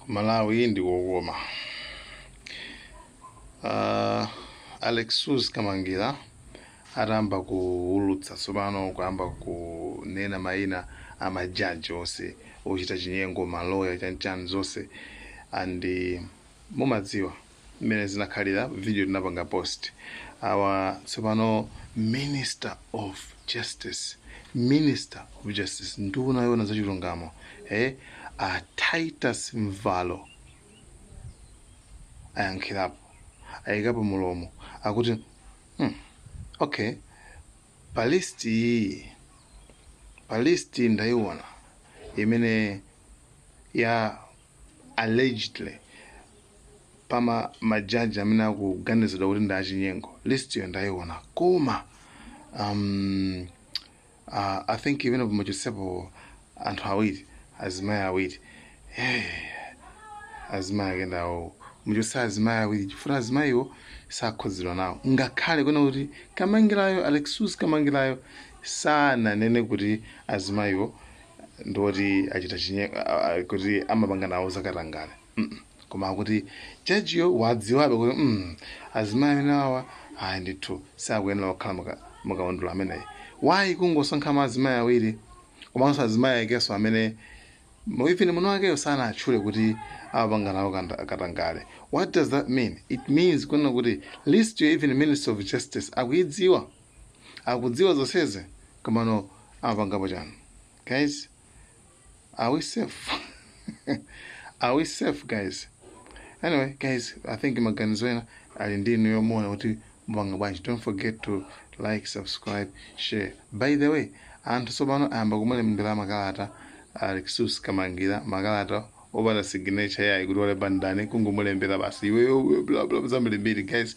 kumalawi ndi kokoma uh, Alexious Kamangila atayamba kuwulutsa tsopano kuyamba kunena mayina a majaji onse ochita chinyengo maloya chanchani zonse and mumadziwa mmene zinakhalira video tinapanga post awa tsopano minister of justice minister of justice nduna yoona za chilungamo eh a titus mvalo ayankhirapo ayikapo mulomo akuti hmm, okay pa list iyi pa list ndayiona imene ya allegedly pa majaji amene akuganizidwa kuti ndi achinyengo list yo ndaiona koma um, uh, i think imene muchotsepo anthu awiri azimayi awiri azimayi akenso awo muchotse azimayi awiri chifukwa azimayiwo sakhudzidwa nawo ngakhale kunena kuti Kamangilayo Alexious Kamangilayo sananene kuti azimayiwo ndi oti achita chinye a- a- kuti amapanga nawo zakatangale Mm-mm. koma akuti jajiyo wadziwabe kuti mm, azimayi amene awa ayi ndithu sakuyenera kukhala muka- mukaundula ameneyi why kungosankha ma azimayi awiri komanso azimayi akenso amene mwini wakeyo sanatchule kuti amapanga nawo kanda- katangale what does that mean it means kunena kuti list yo even minister of justice akuidziwa akudziwa zonsezi komano amapangapo chani guys are we safe are we safe guys anyway guys i think maganizowa ali ndi inu muona kuti mupanga bwanji don't forget to like subscribe share by the way anthu tsopano ayamba kumulembera makalata Alexious Kamangila makalata opanda signature yayi kuti walemba ndani kungomulembera basi iweyo bla bla zambirimbiri guys